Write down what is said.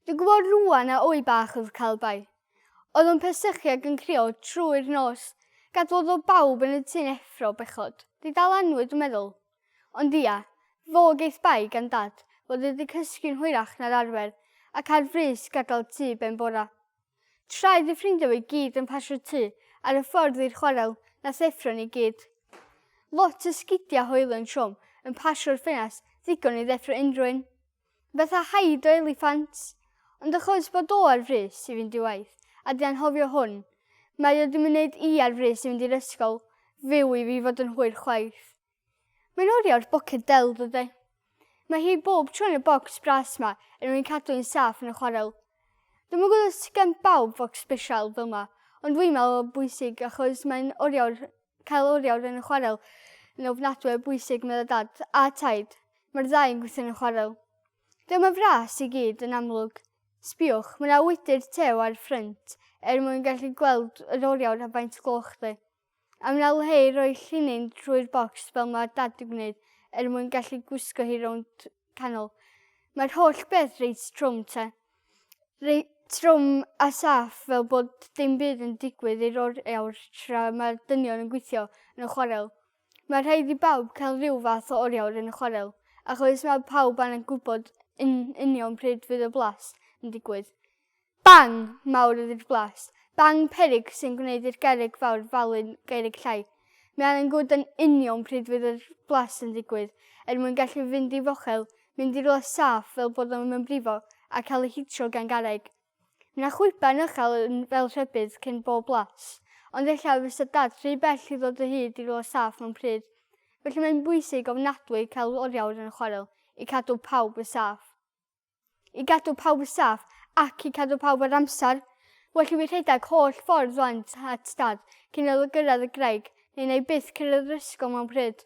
Dwi'n gwybod rŵan a wy bach oedd Calbai. Oedd o'n persychu ac yn crio trwy'r nos, gadwodd o bawb yn y tŷ'n effro bechod. Di dal anwyd dwi'n meddwl. Ond ia, fo geith bai gan dad fod e di cysgu'n hwyrach na'r arfer ac ar frys gadael tŷ ben bora. Tra oedd y ffrindia fo i gyd yn pasio tŷ ar y ffordd i'r chwarel nath effro ni gyd. Lot o sgidia hoelyn trwm yn pasio'r ffenast ddigon i ddeffro unrhyw un. Fatha haid o eliffant. Ond achos bod o ar frys i fynd i waith, a dwi anghofio hwn, mae o di myneud i ar frys i fynd i'r ysgol, fyw i fi fod yn hwyr chwaith. Mae'n orio'r boced del dydi. Mae hi bob tro yn y bocs bras ma er mwyn cadw hi'n saff yn y chwarel. Dwi'm yn gwybod os gan bawb focs sbesial fel ma, ond dwi'n meddwl bwysig achos mae'n orio'r Cael oriawr yn y chwarel yn ofnadwy o bwysig, meddai dad, a taid. Mae'r ddau yn gweithio yn y chwarel. Dyma fras i gyd, yn amlwg. Sbiwch, mae yna wydr tew ar y ffrynt, er mwyn gallu gweld yr oriawr a faint gloch dde. A mae yna le i roi llinyn trwy'r bocs fel mae dad yn gwneud, er mwyn gallu gwisgo hi rownd canol. Mae'r holl beth reit trwm te. Reit trwm a saff fel bod dim byd yn digwydd i'r oriawr tra mae'r dynion yn gweithio yn y chwarel. Mae rhaid i bawb cael rhyw fath o oriawr yn y chwarel, achos mae pawb angen gwybod yn union pryd fydd y blas yn digwydd. Bang! mawr y rif glas. Bang! peryg sy'n gwneud i'r gerrig fawr falu'n gerrig llai. Mean yn gwd yn union pryd fydd yr blas yn digwydd, er mwyn gallu fynd i fochel, mynd i rywle saff fel bod o ddim yn brifo, a cael ei hitro gan garreg. Mae 'na chwiban uchel yn fel rhybudd cyn bob blas, ond ella fysa Dad rhy bell i ddod o hyd i rywle saff mewn pryd. Felly mae'n bwysig ofnadwy cael oriawr yn y chwarel i cadw pawb yn saff. I gadw pawb yn saff ac i cadw pawb ar amser, well i fi rhedeg holl ffordd rwan at dad cyn iddo gyrraedd y graig, neu na i byth cyrraedd yr ysgol mewn pryd.